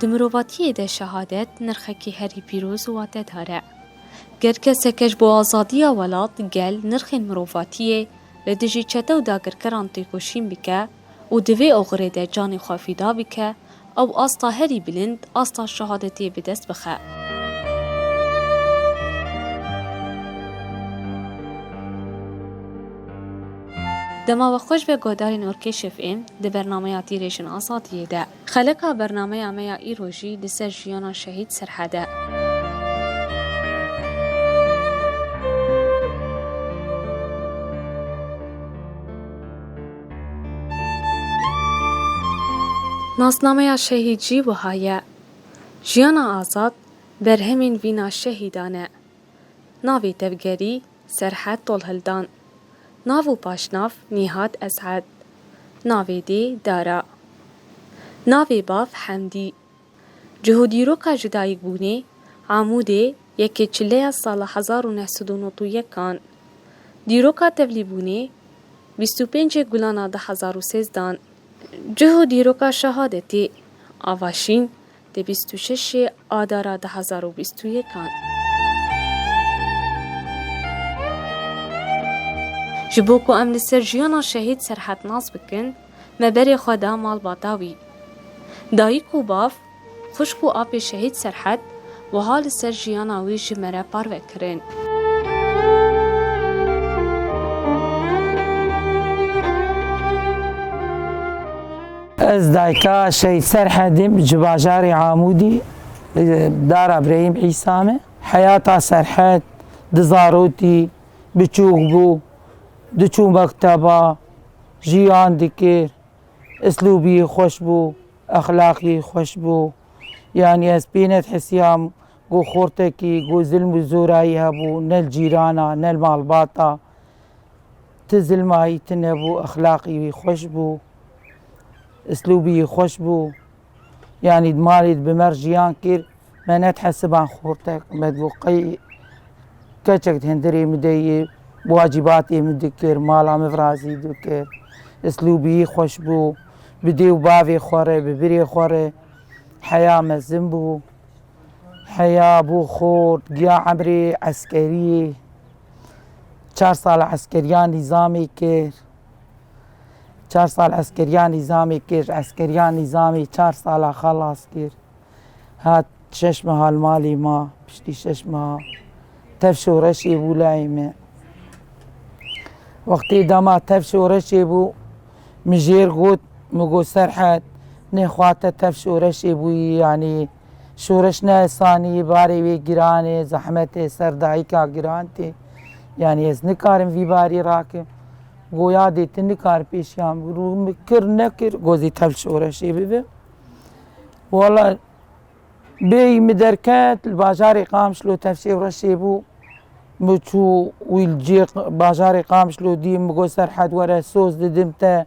Di mirovatiyê de şehadet nirxekî herî pîroz û watedar e. Ger keseke ji bo azadiya welat, gel, nirxên mirovatiyê, li dijî çete û dagirkeran têkoşîn bike, û di vê oxirê de canê xwe fîda bike, ew asta herî bilind, asta şehadetê bi dest bixe. Dema we xweş be guhdarên Orkê Şefê di bernameya Tîrêşên Azadiyê de. Xelika bernameya me ya îro jî li ser jiyana Şehîd Serhed e. Nasnameya Şehîd jî wiha ye. Jiyana azad berhemên vîna şehîdan e. Navê tevgerî Serhed Tolhildan Nav û paşnav Nîhat Es'ed Navê dê Dara Navê bav Hemdî Cih û dîroka jidayîkbûnê Amûdê yekê çileya sala hezar û neh sed û nod û yek an Dîroka tevlîbûnê bîst û pêncê Gulana di hezar û sêzdan Cih û dîroka şehadetê Ava Şîn Di bîst û şeşê Adara du hezar û bîst û yek an. Ji bo ku em li ser jiyana şehîd serhednaz bikin, me berê xwe da malbata wî. Dayik û bav, xwişk û apê şehîd Serhed wiha li ser jiyana wî ji me re parve kirin. Ez dayka Şehîd Serhedîm ji bajarê Amûdî dara Birêhîm Îsa me. Heyata Serhed di zarotî biçûk bû, diçû mekteba, jiyan dikir, islûbî xweş bû, exlaqî xweş bû. Yani ez pê nedhesiyam ku xortekî ku zilm û zorayî hebû nel cîrana, nel malbata. Ti zilmayî tune bû, exlaqî wî xweş bû, islûbî yî xweş bû. Yanî di malê di bi me re jiyan kir. Me ne dihesiban xortek. Me dibû qey keçek di hindirê min de yê, wacîbatê min dikir, mala min razî dikir. Islûbî yî xweş bû. Bi dê û bavê xwe re, bi birê xwe re heya mezin bû. Heya bû xort, giya emrê eskeriyê. Çar sal eskeriya nîzamê kir. Çar sal eskeriya nîzamê kir. Eskeriya nîzamê çar sala xelas kir. Hat şeş meha li malê ma, piştî şeş meha tev şoreşê bû lehê me. Wextê dema tev şoreşê bû, min jêr got, min got Serhet, nêxwate tev şoreşê bûyî yanî Şoreş ne esanî ye, barê wê giran e, zehmet e, ser dayika giran tê. Yanî ez nikarim vî barî rakim. Goya dê tu nikar pêşiyan birû. Min kir nekir got zî tev şoreşê bibe. Wala bêyî min derket li bajarê Qamişlo tev şêwreşê bû. Min çû wî li cê bajarê Qamişlo dî min got Serhed were soz didim te.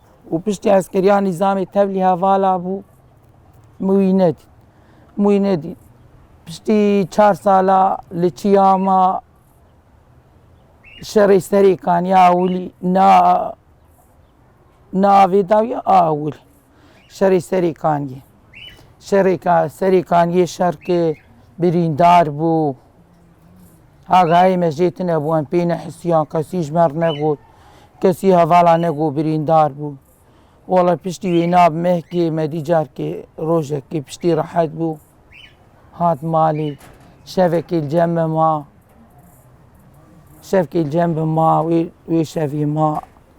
û piştî eskeriya nîzamê tevlî hevala bû Mûînedîn. Mûînedîn piştî çar sala li Çiyama şerê serê kaniya awilî na navê dawiye awil şerê serê kaniye. Şerê serê kaniye şer ke birîndar bû. Agahê me jê tune bû, em pê nehisiyan, kesî ji me re negot, kesî hevala negot birîndar bû. Wala piştî wê na bi mehkê me dî carkê rojekê piştî rehet bû, hat malê. Şevekê li cem me ma. Şevkê li cem me ma, wê wê şevê ma.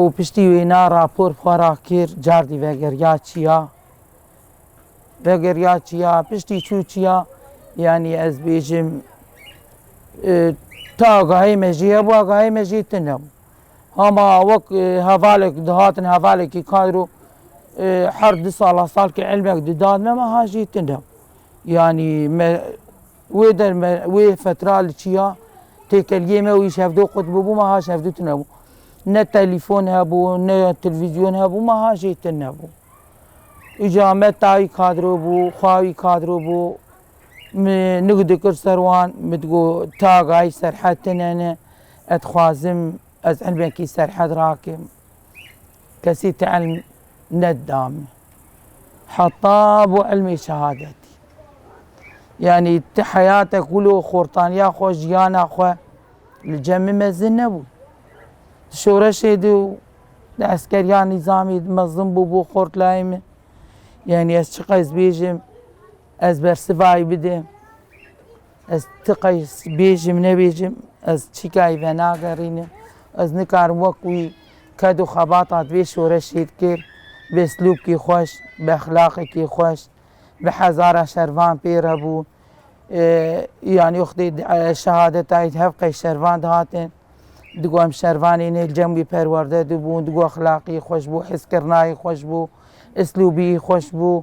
û piştî wêna rapor xwe ra kir cardî vegeriya çiya vegeriya çiya piştî çû çiya yanî ez bêjim ta gahê me jî hebûa gahê me jî tune bû hama wek hevalek dihatin hevalekî kayro her du sala salkê elmek didad me meha jî tune yanî me Wê derme, wê fetra li çiya têkeliyê me û îş hevdo qutbû bû, meha îş hevdû tune bû. Ne telîfon hebû, ne telvîzyon hebû, meha jê tune bû. Îja me tayî kadro bû, xawî kadro bû. Min nik dikir ser wan, min digot ta gayî serhed tune ne, ez dixwazim ez ilmekî serhed rakim. Kesî ti ilm nedida min. Heta bo ilmê şehadetî. Yanî ti heyate ku lo xortaniya xwe, jiyana xwe li cem min mezin nebû. Di şoreşê de û di eskeriya nîzamê de mezin bû bo xort layê min. Yanî ez çiqas bêjim, ez bersivayî bidim. Ez ti qey bêjim nebêjim ez çîkayî venagerînim. Ez nikarim wek wî ked û xebata divê şoreşê dikir bi eslûbkî xweş, bi exlaqekî xweş, bi hezara şervan pê re bû. Yanî wextê şehadetayî di hev qey şervan dihatin. Digo em şervanê ne li cem wî perwerde dibûn, digo exlaqî xweş bû, hezkirinayî xweş bû, eslûbiyî xweş bû.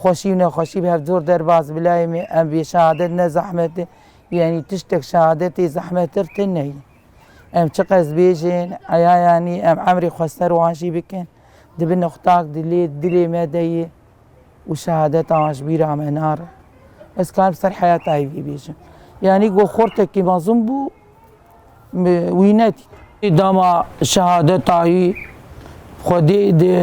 Xweşî û nexweşî bi hev zor derbas bi layê me em vê şehadet ne zehmet e yanî tiştek şehadetê zehmettir tune ye. Em çiqas bêjin eya yanî em emrê xwe ser wan jî bikin di bin nixtak di lê dilê me de ye û şehadeta wan ji bîra me nare. Ez karim ser heyata wî bêjim. Yanî ku xortekî mezin bû bi wî nedît. Dema şehadetayî Xwedê di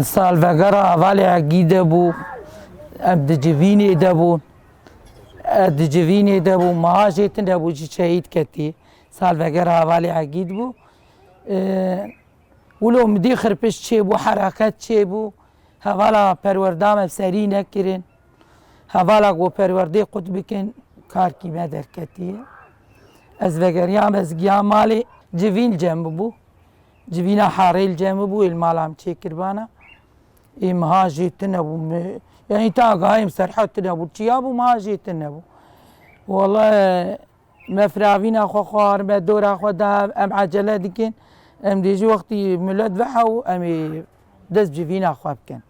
salvegera hevalêyekî de bû, em di civînê de bûn. Ez di civînê de bûm, meha jê tune bû jî şehîd ketî. Salvegera hevalêyekî di bû. Wilo midî xirpiş çêbû, hereket çêbû. Hevala perwerda me bi serî nekirin. Hevala ku perwerdeyê xwe dikin karkî me derketiye. Ez vegeriya me ez giya malê civîn cem bûbû. Civîna herêl cem bûbû ê li mala min çêkiribana. Ê miha jê tune bû me. Yani ta gayêm serhet tune bû. Çiya bû miha jê tune bû. Wala Me firavîna xwe xwar, me dora xwe da, em ecele dikin, em dê jî wextî milet veha û em ê dest ji vîna xwe bikin.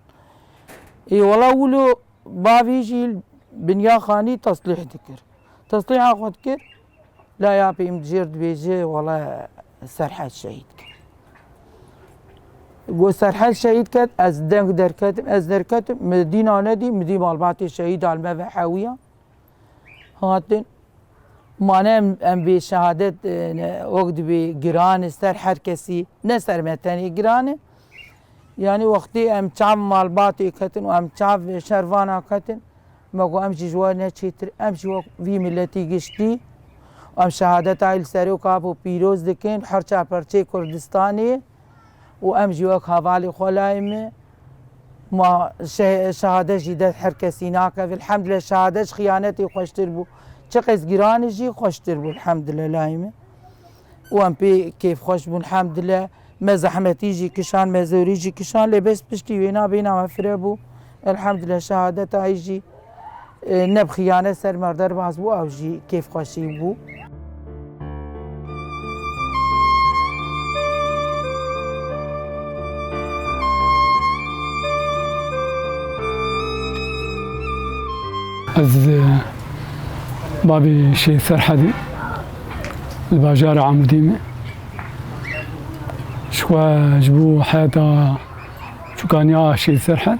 Ê wela wilo bavê jî binya xanî teslîh dikir. Teslîha xwe dikir, laya pê min dijêr dibêje wela Serhel şehîd ket. Got Serhel şehîd ket, ez deng derketim, ez derketim, min dîna nedî, min dî malbatê şehîdan me ve hewiya. hatin mane em em vê şehadet ne ok dibê giran e ser her kesî ne ser me tenê giran e. Yanî wextê em çav malbatê ketin û em çav şervana ketin me got em jî ji we ne çêtir em jî wek vî miletî giştî em şehadeta wî li Seroka Apo pîroz dikin herça perçeyê Kurdistanê û em jî wek hevalê xwe layê me Ma şehade jî dest her kesî nake. Vilhemdile şehade ji xiyanetê xweştir bû. Çi qez giranî jî xweştir bû vilhemdile layê min. Û em pê kêfxweş bûn hemdile. Me zehmetî jî kişand, me zorî jî kişand lê bes piştî wêna bêhna me firebû. Elhemdile şehadeta hijî. Neb xiyane ser me derbas bû ew jî kêfxweşî bû. Ez bavê Şêh Ferhadê li bajara Amûdê me. Ji xwe ji bo heyeta çûkaniya Şêh Ferhad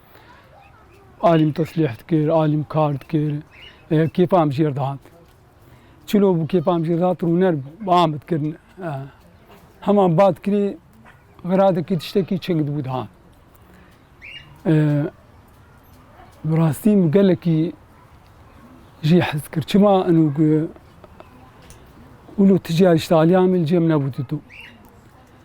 Alîm teslîh dikir, alîm kar dikir. Kêfa em jêr dihat. Çilo bû kêfa em jêr dihat rûner bû. Ba em dikirin. Heman ba dikirî xiradekî tiştekî çing dibû dihat. Bi rastî min gelekî jî hez kir. Çima inu ûlo tijî alîşta alîya min cêm nebû didû.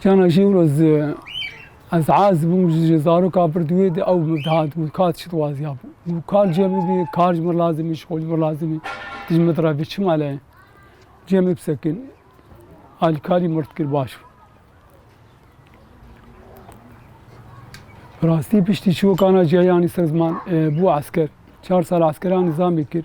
Cana jî wilo zi ez az bûm ji zaroka pir di wê de ew min dihat got ka tu çi dixwazî ya bû got kar cem bibî kar ji min lazim î şixwe ji min lazim î tu ji min re bê çima lê cem bib sekin alîkarî mirt kir baş bû. Rastî piştî çiwokana ciya yanî ser ziman bû esker çar sal eskeran nizamê kir.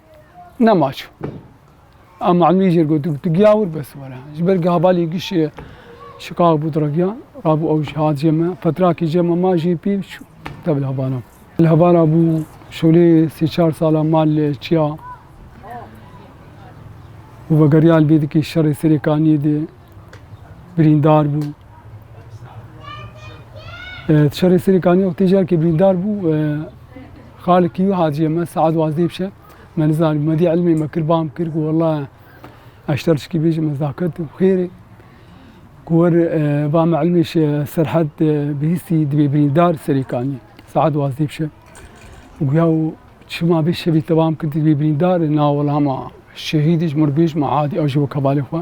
Ne maç. Em malmî jêr got tu giya wir bes were. Ji ber gabalî giş şikaq bû diragiya. Rabû ew ji hat jê me. Fetrakê jê me ma jê pî çû te li Havana. Li Havana bû şolê sê çar sala mal li çiya û vegeriya li bê dikê şerê serê kaniyê dê. birîndar bû. Şerê Sirê Kanî wextê jî herkê birîndar bû. Xalikî û Hacîye me saet wazdeh bişe. Me nizanî me dî ilmê me kir bam kir ku wela eşter çikî bêjim ez daket û xêrê. Ku wer va me ilmê şe serhed bihîstî dibê birîndar Sirê Kanî. Saet wazdeh bişe. Guya û çima bê şevî te bam kir dibê birîndar na wela ma şehîdî ji mir bêj ma adî ew jî wek hevalê xwe.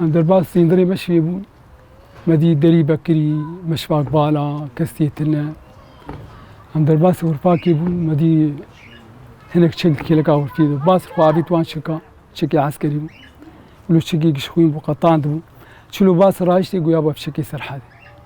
Em derbas sîndirê me şivê bûn. Me dî Derî Bekirî, Meşvak Bala, Kestiyê Tine. Em derbasî Hurpakê bûn. Me dî hinek çek di kêleka Hurpiyê de. Bas xwe avît wan çeka. Çekê eskerî bû. Wilo çekê gişxwîn bû, qetand bû. Çilo bas rayiştê goya be bi çekê serhedê.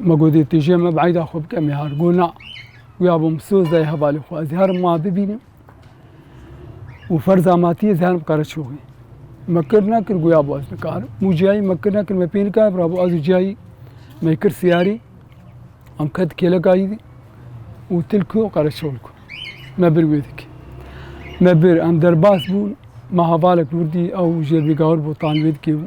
Ma got dê têjê me bi eyda xwe bike mihar. Got na. Wî abû min soz dayê hevalê xwe. Ez herim ma bibînim û ferza ma tî ez herim Qereçoxê. Me kir nekir goya bo ez nikarim. Mû ciyayî me kir nekir me pê nikare bira bo ez û ciyayî me kir siyarî em ket kêleka yî dî û tilku Qereçox ku. Me bir wê dikê. Me bir em derbas bûn ma hevalek nur dî ew jêrbî gawir bû tan wê dikê bû.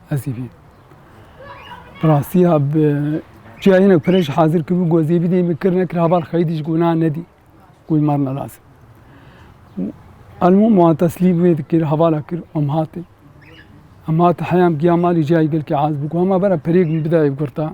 Esîfî. Bi rastî ya bi çiya hinek pere jî hazir kibû got zêbî dê min kir nekir habar xeyidî ji gona nedî ku wî mar nelas. Elmûm wan teslîm wê dikir hevala kir em hatê. Em hate heyam giya malê ciyayê gelkê az bû ku hema vera perêk min bida ev girta.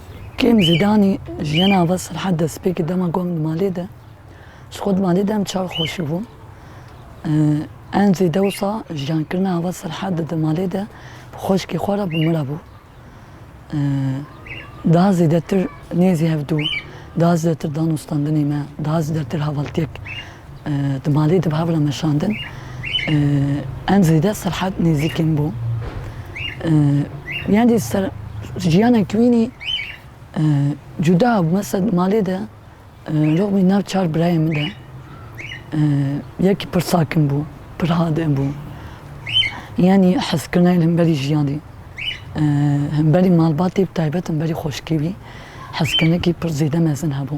Kêm zêdanî jiyana va Serhad destpêkê dema ku em di malê de ji xwe di malê de em çav xweşibûn. Em zê dewsa jiyankirina ava Serhad de di malê de bi xweşkê xwe re bi min re bû. Daha zêdetir nêzî hevdû, daha zêdetir dano standinê me, daha zêdetir hevaltiyek Di malê di bi hev re meşandin. Em zêde Serhad nêzîkên bû. Yan jî ser jiyanek wînî cuda bû. Mesela di malê de rûbî nav çar birayê min de. Yekî pir sakin bû, pir hade bû. Yanî hezkirina li hemberî jiyanê, hemberî malbatê bi taybet hemberî xweşkê wî hezkirinekî pir zêde mezin hebû.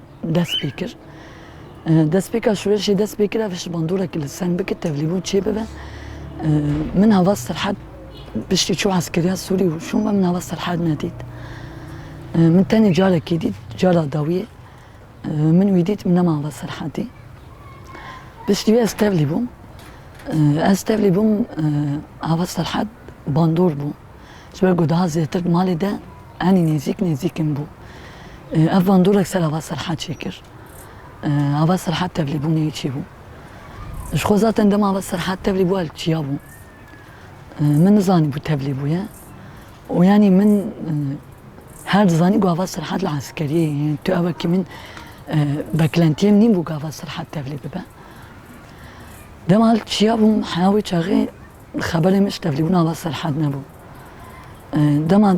dest pê kir. Destpêka şûreşê dest pê kir ev ji bandorekî li seng bike tevlîbûn çêbibe. Min hava serhed piştî çû eskeriya Sûrî û şûn ve min hava serhed nedît. Min tenê carekê dît cara dawiyê min wî dît min nema hava serhedî. Piştî wê ez tevlî bûm. Ez tevlî bûm hava serhed bandor bû. Ji ber ku daha zêtir di malê de enî nêzîk nêzîkin bû. Ev bandorek ser Ava Serhat jî kir. Ava Serhat tevlîbûnê çi bû? Ji xwe zaten dema Ava Serhat tevlî bû el çiya bû. Min nizanîbû tevlî bûye û yanî min her dizanî ku Ava Serhat li eskeriyê ye. Yanî tu ew wekî min beklentiyê min nîn bû ku Ava Serhat tevlî bibe. Dema el çiya bûm heya wê çaxê Xeberê min ji tevlîbûna li Serhed nebû. Dema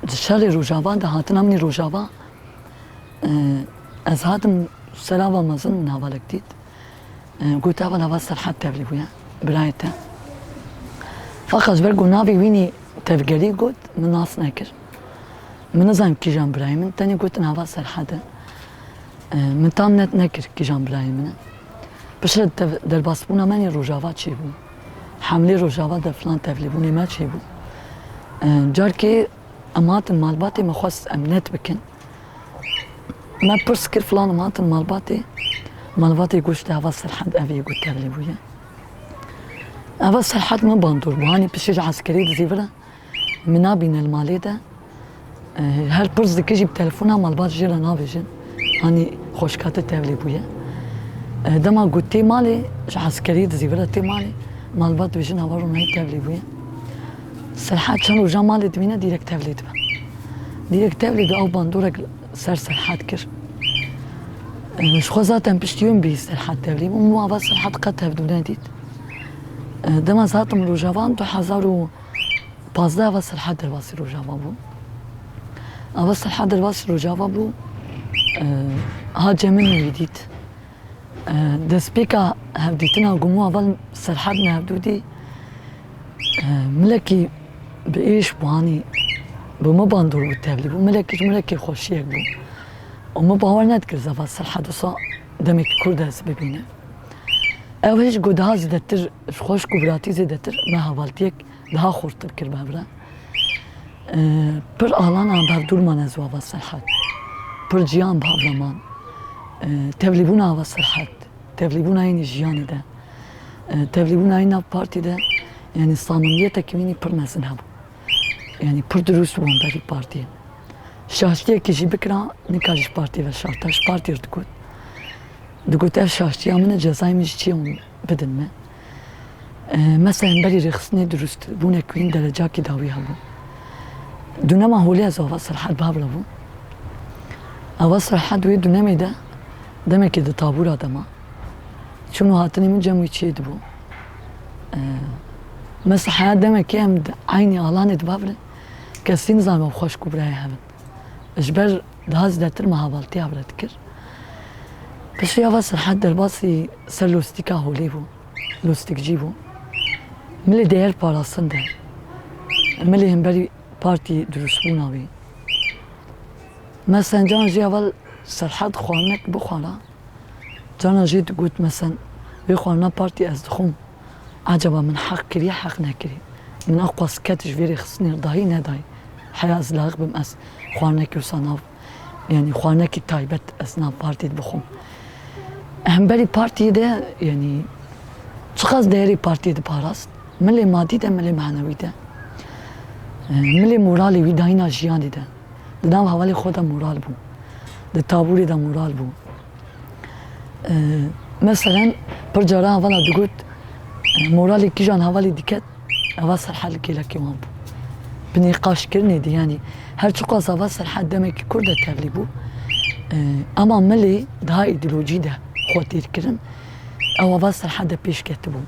di şerê Rojava de hatina min Rojava, ez hatim ser ava mezin min hevalek dît. Got heval ava Serhed tevlî bûye birayê te. Faqa ji ber ku navê wînî tevgerî got min nas nekir. Min nizanim kîjan birayê min tenê gotin ava Serhed e. Min tam net nekir kîjan birayê min e. Piştre derbasbûna min Rojava çi bû. Hemlê Rojava de filan tevlîbûnê me çêbû. Carkê em hatin malbatê me xwest em net bikin. Me pirs kir filan em hatin malbatê. Malbatê goşt eva Serhed ev yê ku tevlîbûye. Eva Serhed min bandor bû. Hanî piştî ji eskerî dizî vira Min nabîne li malê de. Her pirs dike jî bi telefona malbat jê re nabêjin. Hanî xweşka te tevlî bûye. Dema got tê malê, ji eskeriyê dizî vira tê malê. Malbat dibêjin ava Ronayî tevlî bûye. Serhat çend rojan malê dimîne dîrek tevlî dibe. Dîrek tevlî dibe ew bandorek ser Serhat kir. Ji xwe zaten piştî wê min bihîst Serhat tevlî bû. Min ava Serhat qet tevdû nedît. Dema zatim rojavan du hezar û Pazdeh ava Selha Derbasî Rojava bû. Ava Selha Derbasî Rojava bû ha Cemil wî dît. Destpêka hevdîtina Gumû ava li Selha din hevdûdî milekî bi êş bû hanî bi miban dûr bû tevlî bû. Milekî ji milekê xweşiyek bû. û min bawer nedikir zaf a Selha disa demekî Kurd e ez bibînim. Ew hê ji ku daha zêdetir Ji xweşk û viratî zêdetir me hevaltiyek daha xurtir kir bi hev re. Pir alana bi hev dûr man ez û Ava Serhat. Pir ciyan bi hev re man. Tevlîbûna Ava Serhat, tevlîbûna yê nî jiyanê de, tevlîbûna yê nav partî de yanî samimiyetekî wî nî pir mezin hebû. Yanî pir dirûs bû hemberî partiyê. Şaştiyekî jî bikira nikarî ji partiyê ve şarta. Ji partiyê re digot. Digot ev şaştiya min e, cezayê min jî çi ye? bidin me. Me seyenberî rêxistinê dirûst bûne ku hîn derecakî dawî hebû. Dunema holê ez û Ava Serhed bi hev re bûn. Ava Serhed wê dunemê de demekê di tabûra de ma. Çûn û hatinê min cem wî çiyê dibû. Me siheya demekê em di eynî alanê di bav re kesî nizanibû xweşk û birayê hev in. ji ber daha zêdetir meha baltêya bile dikir. Piştî ava Serhad derbasî ser lostîka holê bû, lostikcî bû. Milê dê her parastin de, milê himberî partî dirûşbûna wî. Mesen can jî ava Serhad xwarinek bixwara, canan jî digot Mesen, vê xwarina partî ez dixwim. Acaba min heq kiriye heq nekiriye? Min a qas ket ji vê rê xistinê dayî nedayî? Heya ez layiq bim ez xwarinekî wisa nav yanî xwarinekî taybet ez nav partî di bixwim. Hemberî partî de yanî çiqas deyerê partî diparast milê madî de milê manewî de milê moralê wî dayîna jiyanê de di nav hevalê xwe de moral bû di taborê de moral bû. Meselen pir caran hevala digot moralê kîjan hevalê diket eva serhedli kêlekê wan bû. Bi nîqaşkirinê de yanî her çiqas eva serhed demekî kur de tevlî bû ema milê daha îdeolojî de xwe têrkirin ew eva serhed de pêş ketibû.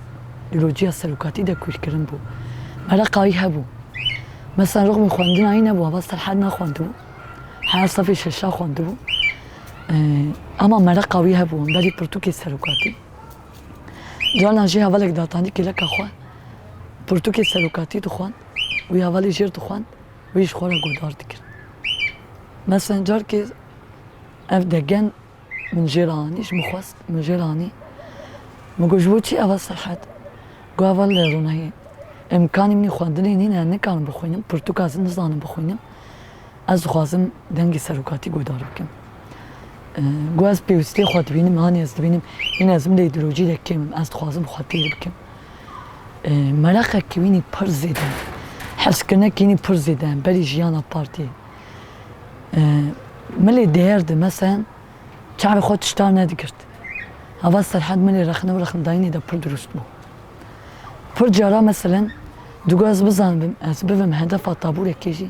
Îdeolojiya serokatî de kûrkirin bû. Mereqa wî hebû. Meselen rixmî xwendina wî nebû eva serhed nexwendibû. Heya sefê şeşa xwendibû. Hema mereqa wî hebû wan berî pirtûkê serokatî. Carnan jî hevalek datanî kêleka xwe pirtûkê serokatî dixwend. Wî hevalê jêr dixwend wî ji xwe re guhdar dikir. Meselen carkê ev degen min jê re anî ji min xwest min jê re anî. Min got ji bo çi eva serhet? Got heval li ronahiyê îmkanî min ê xwendinê nîne nikarim bixwînim pirtûka zin nizanim bixwînim. Ez dixwazim dengê serokatî guhdar bikim. Ku ez pêwîstiyê xwe dibînim, hanê ez dibînim, hîn ez min de îdeolojî de kêm im, ez dixwazim xwe têr bikim. Mereqek ki wînî pir zêde ye, hezkirine ki wînî pir zêde ye berî jiyana partiyê. Milê dêyer de meselen çavê xwe tişta nedigirt. Hava Serhad milê rexne û rexndayînê de pir dirûst bû. Pir cara meselen di ku ez bizanibim, ez bivim hedefa taboreke jî,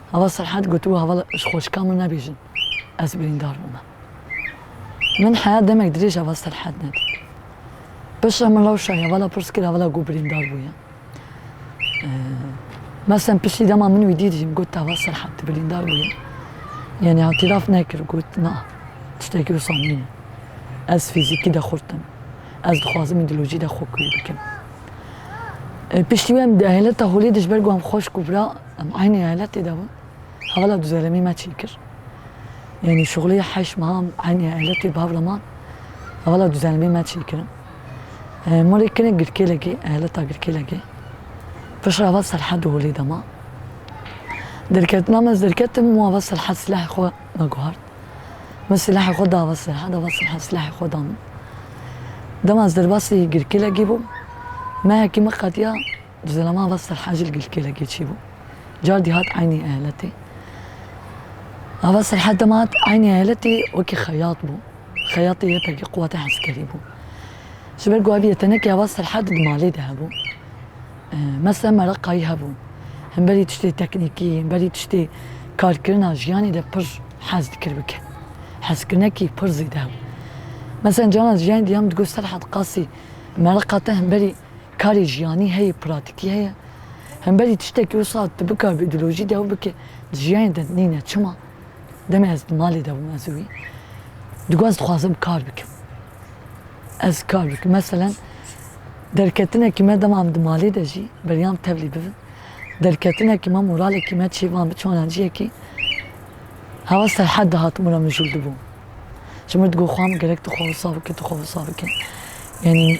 Heval Serhad gotibo heval ji xweşika min nebêjin ez birîndar bûme. Min heya demek dirêj heval Serhad nedît. Piştre min rewşa hevala pirs kir hevala ku birîndar bûye. Mersem piştî dema min wî dît jî got heval Serhad tu birîndar bûye. Yanî îtîraf nekir got na tiştekî wisa nîne. Ez fîzîkî de xurt im. Ez dixwazim îdeolojî de xwe kûr bikim. Piştî wê em di ehleta holê de ji ber ku em xweşk û bira Em eynî eyaletê de bûn. Hevala du zelemî me çîn kir. Yanî şuxulîya heşt meha em eynî eyaletê bi hev re man. Hevala du zelemî me çîn kirin. Malê kinek Girkêlekê, eyaleta Girkêlekê. Piştre heval Serhedê Holê de ma. Derketina me ez derketim û heval Serhed silahê xwe me guhart. Min silahê xwe da heval Serhed, heval Serhed silahê xwe da min. Dema ez derbasî Girkêlekê bûm, mehekî min qetiya. Di zilaman ve Serhecîl gilkêlekê çêbû. Car dîhat eynî eyaletê. Ava Serhed dema hat eynî eyaletê wekî xeyat bû. Xeyatê yepekî quweta heskerî bû. Ji ber ku aviye tenekê ava Serhed di malê de hebû. Mesela meraqayî hebû. Hemberî tiştê teknîkî, hemberî tiştê karkirina jiyanê de pir hez dikir bike. Hezkirinekî pir zêde hebû. Mesela canan ji yanê diyam digot Serhed qasî meraqa te hemberî. Karê jiyanî heye, pratîkî heye. Hemberî tiştekî wisa tu bikar bi îdeolojî dew bikî, di jiyanê de nîne. Çima? Demê ez di malê de bûm ez û wî digot ez dixwazim kar bikim. Ez kar bikim. Meselen derketinekî me dema em di malê de jî beryam tevlî bibin. Derketinekî me moralekî me çê van bi çanan ciyekî hewa serhed de hatim û mijûl dibûm. Ji min re digot xwe min gerek tu xwe wisa bike, tu xwe wisa bike. Yanî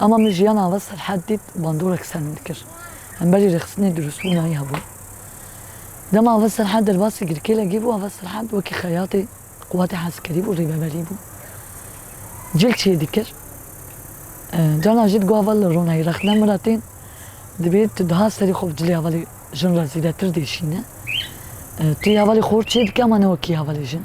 Ama min jiyana ve Serhad dît bandorek ser min dikir. Hemberî rêxistinê durustbû nayî hebû. Dema Ave Serhad derbasî girkêlegî bû, Ave Serhad wekî xeyatê quwatê heskerî bû, rêveberî bû. Cil çê dikir. Carna jî digot Ave li ronayî rexne min re tên. Divê tu diha serî xwe bi cilê hevalê jin re zêdetir dêşîne. Tu yê hevalê xor çê dikî ama ne wekî hevalê jin.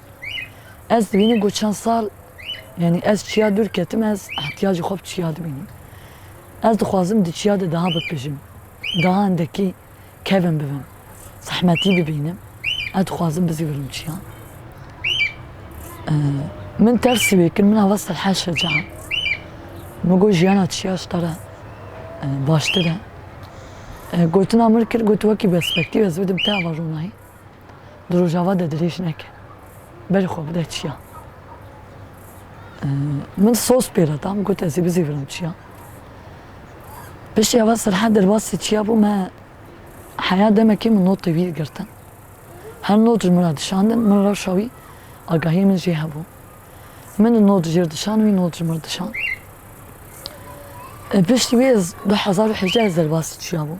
Ez dibînim ku çend sal yanî ez çiya dûr ketim ez ihtiyacê xwe bi çiya dibînim. Ez dixwazim di çiya de daha bipejim, daha hindekî kevin bibim, zehmetî bibînim, ez dixwazim bizîvirim çiyan. Min tersî wê kir, min ava Selha Şeca min got jiyana çiya ji te re baştir e. Gotina min kir got wekî perspektîf ez bidim te ava ronayî. di rojava de dirêj neke, berê xwe bide çiyan. Min soz pê re da, min got ez ê bizîvirim çiyan. Piştî eva Sirhe derbasî çiya bû me heya demekê min notê wî girtin. Her not ji min re dişandin, min rewşa wî agahiyê min jê hebû. Min di not jê re dişand, wî not ji min re dişand. Piştî wî ez du hezar û hejdeh ez derbasî çiya bûm.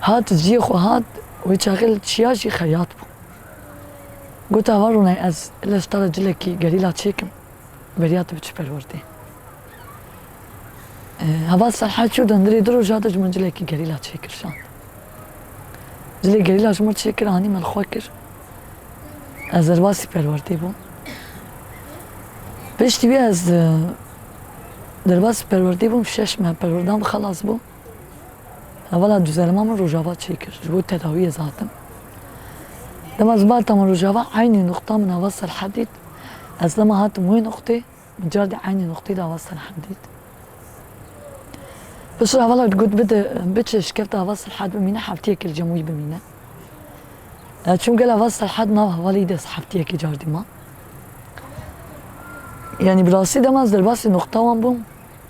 Hat ciyê xwe hat, wê çaxê li çiya jî xeyat bû. Got ava rûnayê ez li stala cilekî gerîla çêkim, beriya tu bi çi perwerdê. Heval Selha çû dundirê du roja de ji min cilekî gerîla çêkir şand. Cilê gerîla ji min çêkir anî min xwe kir. Ez derbasî perwerdê bûm. Piştî wî ez derbasî perwerdê bûm şeş me perwerdan xelas bûm. Hevala du zerima min Rojava çê kir ji bo tedawiyê zatim. Dema ji Malta min Rojava eynî nuqta min ava Serhed dît. Ez dema hatim wê nuqtê min cardî eynî nuqtê de ava Serhed dît. Piştre hevala got bide biçe ji kevta ava Serhed bimîne heftiyekê li cem wî bimîne. Ez çûm gel ava Serhed nav hevalî dest heftiyekê cardî ma. Yanî bi rastî dema ez derbasî nuqta wan bûm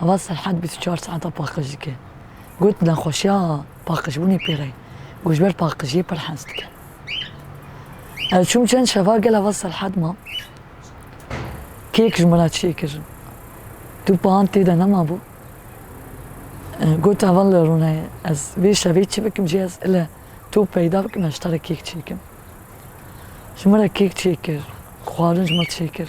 Ava Serhad bîst û çar saeta paqij dike. Got, Nexweşiya paqijbûnê pê re ye û ji ber paqijiyê pir hez dike. Ez çûm çend şeva gel ava Serhad ma. Kêk ji min re çê kir. Du pan tê de nemabû. Got, Ava li rûneyê ez vê şevê çi bikim jî ez ile to peyda bikim ez ji te re kêk çêkim. Ji min re kêk çêkir, xwarin ji min re çêkir.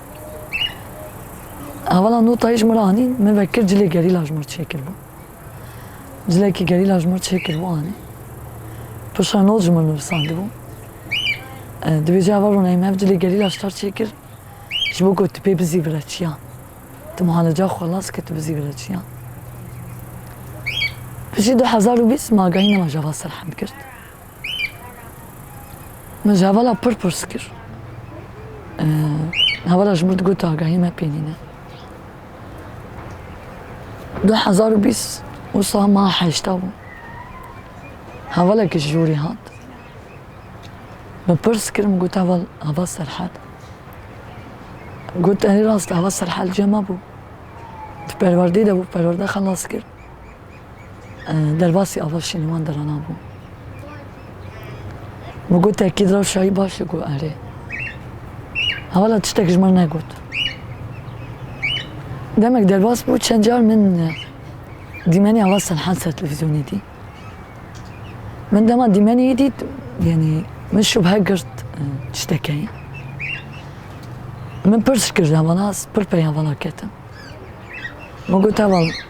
Hevala notayê ji min re anî, min vekir cilê gerîla ji min re çêkiribû. Cilekî gerîla ji min re çêkiribû anî. Piştre not ji min nivisandibû. Divê ji heval rûneyê me cilê gerîla ji tar çêkir ji bo ku tu pê bizî vire çiyan. Tu muhaleca xwe las kir tu bizî vire çiyan. Piştî du hezar û bîst me agahî nema ji heval serhend girt. Min ji hevala pir pirs kir. Hevala ji min digot agahî me pê nîne. Du hezar û bîst wisa ma heşta bû. Hevalekî ji jorî hat. Min pirs kir min got heval heva serhel. Got erê rast e heva serhel cem hebû. Di perwerdeyê de bû perwerde xelas kir. derbasî ava şînîwan dirana bû. Min got te kîd rewşayî baş e ku erê. Hevala tiştek ji min negot. Demek derbas bû çend car min dîmenê ava Selhan ser televîzyonê dî. Min dema dîmenê yê dît yanî min şubhe girt tişteke ye. Min pirs kir hevala pir pey hevala ketim. Min got heval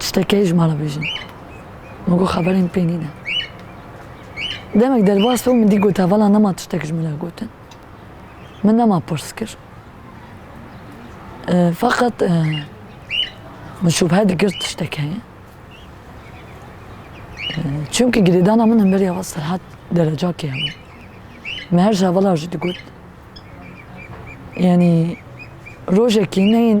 Tiştekê ji me re bêjin. Min got xeberên pê nîne. Demek derbas bû min dî got hevala nema tiştek ji min re gotin. Min nema pirs kir. Feqet min şubhe dikir tiştek heye. Çimkî girêdana min hemberî heval Serhat derecakê hebû. Min her ji hevala jî digot. Yanî rojekî neyên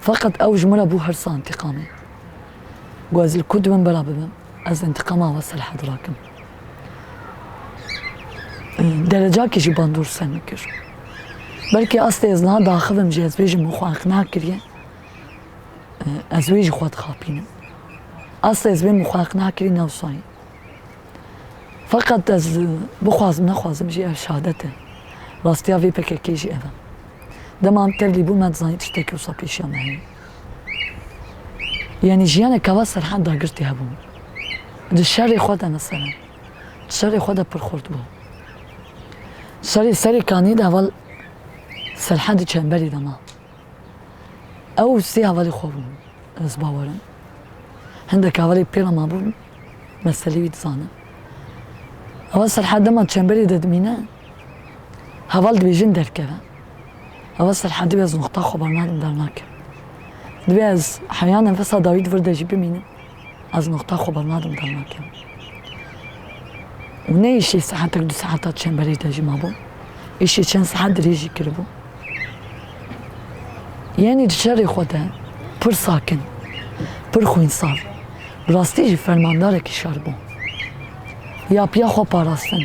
Feqet ew ji min re bû hirsa întîqamê. Ku ez li ku di min bera bibim, ez întîqama we serhad rakim. Derecakî jî bandor ser min kir. Belkî astê ez niha diaxivim jî ez vê ji min xwe iqna kiriye. Ez wê ji xwe dixapînim. Astê ez vê min xwe iqna kirî ne wisa ye. Feqet ez bixwazim nexwazim jî ev şadet e. Rastiya vê pkk jî ev e. Dema em tevlî bûn me dizanî tiştekî wisa pêşiya me heye. Yanî jiyanek ka va serhend da girtî hebû. Di şerê xwe de ne serhend. Di şerê xwe de pir xurt bû. Şerê serê kanî de heval serhendî çemberî de ma. Ew sê hevalê xwe bûn ez bawer im. Hindek hevalê pê re mabûn meselê wî dizanim. Heval Selha dema çemberê de dimîne heval dibêjin derkeve. Heval Selha dibê ez noqta xwe bernadim dernakim. Dibê ez heya nefesa dawî di vir de jî bimînim. Ez noxta xwe bernadim dernakim. Û ne îşê saetek du saeta çemberê de jî mabûm. Îşê çend saet dirêj jî kiribû. Yenî di şerê xwe de pir sakin, pir xwînsar, bi rastî jî fermandarekî şer bû. Ya piya xwe parastin.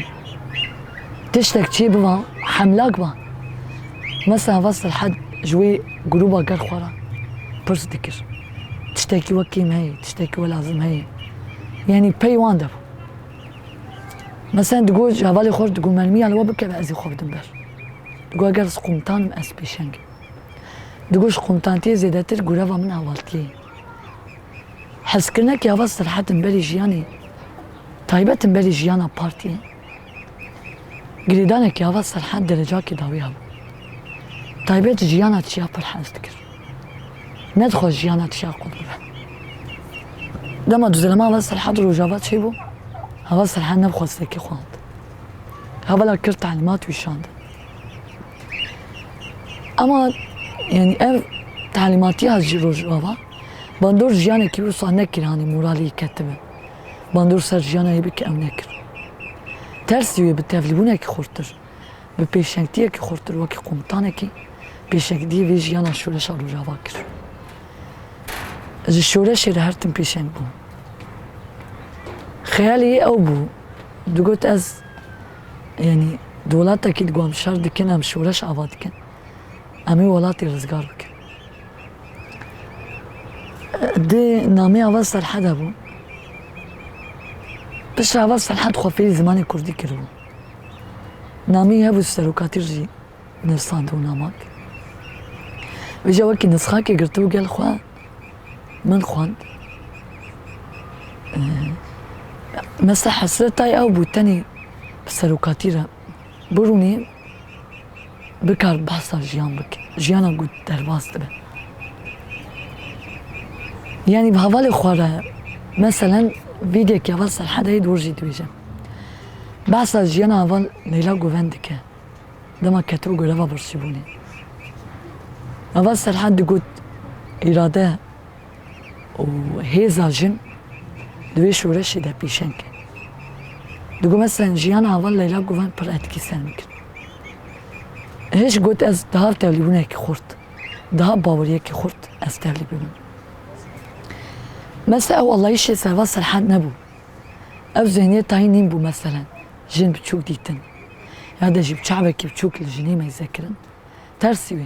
Tiştek çê biba, hemlak ba. Mesela Veselhed ji wê grûba gel xwe re pirs dikir. Tiştekî wek kêm heye, tiştekî we lazim heye. Yanî pey wan de bû. Meselen digot ji hevalê xwe re digot mermîya li we bikeve ez ê xwe bidim ber. Digot eger ez qumtan im ez pêşeng im. Digot ji qumtantiyê zêdetir gureva min hevaltiyê ye. Hezkirinekî ava sirhet im berî jiyanê taybet im berî jiyana partiyê. Girêdanekî ava serhend derecakî dawî hebû. Taybet jiyana tişiya pir hevs dikir. Ne dixwest jiyana tişiya qut bibe. Dema duzerama ava serhend rojava çêbû, ava serhend ne bi xwestekî xwend. Hevala kir telîmat wî şandin. Ema yanî ev telîmatiya ji rojava bandor jiyanekî wisa nekir hanî moralê wî ketibe. bandor ser jiyana wê bike ew nekir. Tersî wê bi tevlîbûnekî xurttir, bi pêşengtiyekî xurttir wekî komutanekî pêşengtiyê vê jiyana şoreşa Rojava kir. Ez ji şoreşê re her tim pêşeng bûm. Xeyalê yê ew bû, digot ez yanî di welatekî di ku em şer dikin, em şoreş ava dikin, em ê welatê rizgar bikin. Dê namê ava Serhede bû. Piştre ava Serhed xwe fêrî zimanê kurdî kiribû. Namî hebû serokatî jî nivsandibû namak. Wê jî wekî nisxakê girtibû gel xwe min xwend. Mesa hesretayê ew bû tenê bi serokatî re birûnê. bikar behsa jiyan bike, jiyana ku derbas dibe. Yanî bi hevalê xwe re meselen vîdyekî heval Serhedeyê di rojê dibêje. Behsa jiyana heval Leyla Guven dike, dema ketibo goreva birçîbûnê. Heval Serhed digot, Îrade û hêza jin di wê şoreşê de pîşeng kir. Di gome sen jiyana heval Leyla Guven pir etkî ser min kir. Hêj got ez di hav tevlîbûnekî xurt, di hav baweriyekî xurt ez tevlî bibim. Mesa ew allayîşê serva Serhad nebû. Ew zihniyê tayî nîn bû meselen jin biçûk dîtin ya de jî bi çavekî biçûk li jinê meyze kirin tersî wê.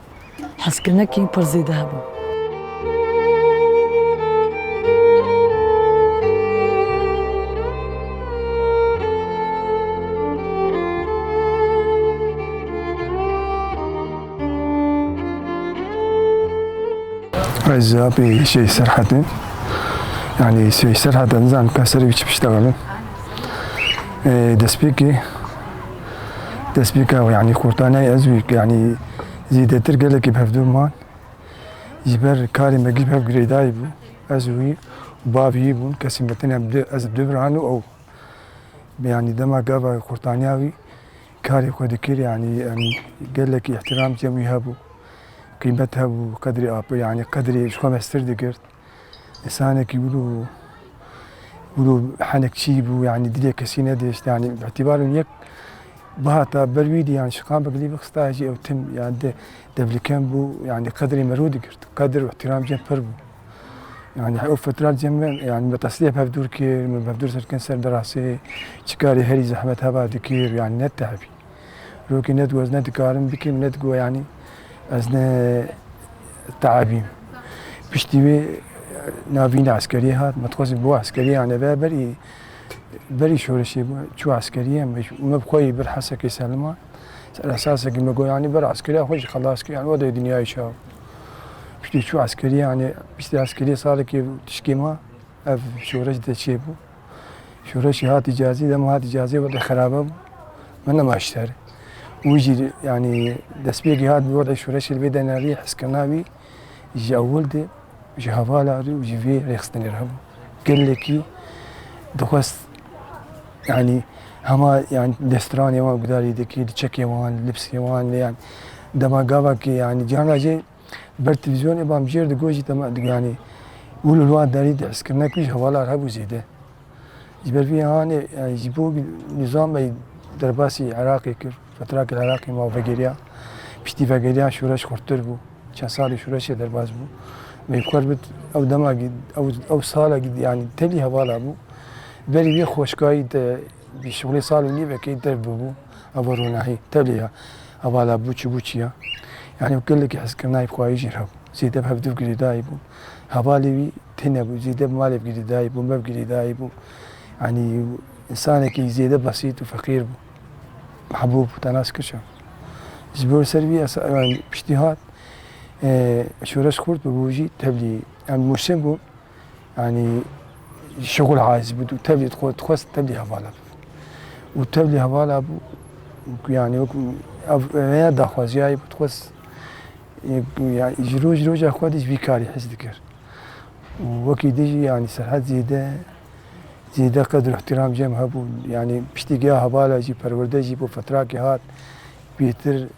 Hezkirinekî pir zêde hebû. Ez apê şey Serhetê. Yani şey Serhet'e nizan peserê wî çi piştevane. Destpêkê destpêka wî yanî kurtaneyê ez wî yanî zêdetir gelekî bi hevdû man. Ji ber karê me giş bi hev girêdayî bû. Ez û wî û bavê wî bûn kesên me têne ez bi du biran û ew. Yanî dema gava kurtaniya wî karê xwe dikir yanî em gelekî îhtîram cem wî hebû. Qîmet hebû qedrê apê yanî qedrê ji xwe meztir digirt. Însanekî wilo wilo henek çî bû yanî dilê kesî nedişt yanî bi îtîbarên yek bihata ber wî dî yanî şiqan bi gilî bixista jî ew tim yanî de devlikem bû yanî qedrê mero digirt qedr û îhtîram cem pir bû yanî ew fetrat cem me yanî me tesliyek hevdûr kir min hevdûr ser kin ser derasê çikarê herî zehmet heba dikir yanî netehibî Rokê ne digot ez ne dikarim bikim ne digot yanî ez ne teebîm. Piştî wê navîna eskeriyê hat me dixwazî bo eskeriyê ane be berî berî şoreşê çû eskeriyê me bi xwe yî bir hesekê selima ser esasekî me got yanî bir eskeriya xwe jî xelas kir yanî wede dinyayê çaw. Piştî çû eskeriyê yanî piştî eskeriyê salekê tişkê ma ev şoreş de çêbû. Şoreşê hatî cazî dema hatî cazî wextê xerabe bû. Min nema ji ser. Wî jî yanî destpêkê hat bi wextê şoreşê li vê de nerî hezkirina wî ji ewil de ji hevala re û ji vê rêxistinê re hebû. Gelekî dixwest yanî hema yanî destranê wan gudarî dikir, çekê wan, lipsê wan lê yanî dema gavakê yanî cihana jê Ber televîzyonê bamjêr di gojî de me digihanî û li wan derî di hizkirina ku jî hevalar hebû zêde. Ji ber vî hanê ji bo nîzamê derbasî Iraqê kir, fetrakê li Iraqê ma vegeriya. Piştî vegeriyan şoreş xurttir bû. Çend salê şoreşê derbas bû. Wê kar bit ew dema gî ew ew sala gî yanî tevî hevala bû. Berî vê xweşkayî de bi şûnê sal û nîvekê dev bûbû. Ava ronahî tevlî ya. Ava la bûçî bûçî ya. Yanî gelekî hezkirinayî bi xwayî jî hebû. Zêde bi hevdû girêdayî bû. Hevalê wî têne bû. Zêde bi malê bi girêdayî bû, me bi girêdayî bû. Yanî însanekî zêde besît û feqîr bû. Mehbûb û Tenas Kirşa. Ji bo ser wî esa piştî hat şoreş xurt bû bû jî tevlî. Yan Mûrsin bû. Yanî şixul hayzî bû û tevlî dixwest dixwest tevlî hevala bibe. Û tevlî hevala bû ku yanî wek ev rêya daxwaziyayê bû dixwest yanî ji roj roja xwe dij vî karî his dikir. Û wekî dij yanî Serhet zêde zêde qedir û îhtîram cem hebûn. Yanî piştî giya hevala jî perwerde jî bo fetrakê hat pêtir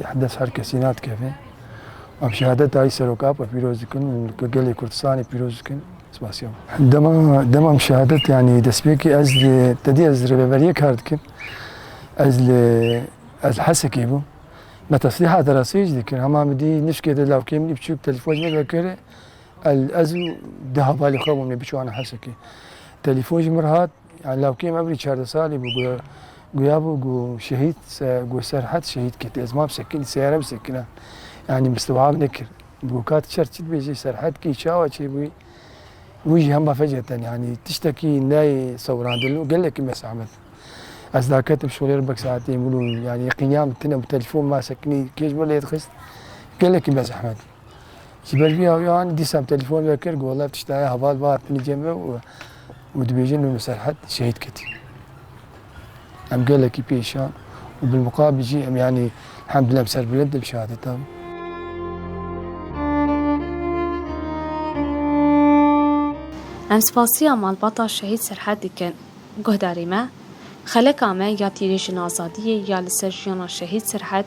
Yeh dest her kesî nadikeve. Em şehadeta wî Serok Apo pîroz dikin û li gel gelê Kurdistanê pîroz dikin. Spasiya wan. Dema dema em şehadet yanî destpêkê ez li te dî ez li rêveberiyê kar dikim. Ez li ez li Hesekê bûm. Me teslîha deraseyê jî dikir. Hema min dî nişkê de lawkê min bçûk telîfon ji min re kir. Ez û du hevalên xwe bûn ê biçû ana Hesekê. Telîfon ji min re hat. Yan lawkê me bû çardeh salî bû ku guya bû ku şehîd ku Serhed şehîd kir tê. Ez ma bi sekîn seyare bi sekînan. Yanî bi siwab nekir. Bû kat çer çi dibêjî Serhed kî çawa çê bûyî wî jî hemba feceten yanî tiştekî neyê sewirandin û gelekî me zehmet. Ez da ketim şolê re bek saetê min û yanî qînyan tune bi telefon ma sekînî kêj min lê dixist gelekî me zehmet. Ji ber vî awî anî dîsam telefon vekir got wela tişt heye heval va hatine cem ve û û dibêjin Nur Serhet şehîd ketî. Em gelekî pêşan û bilmuqabil jî em yanî hemdillah em serbilind im şehadetan. Em spasiya malbata şehîd Serhet dikin. Guhdarê me, xeleka me ya tîrêjin azadiyê ya li ser jiyana şehîd Serhet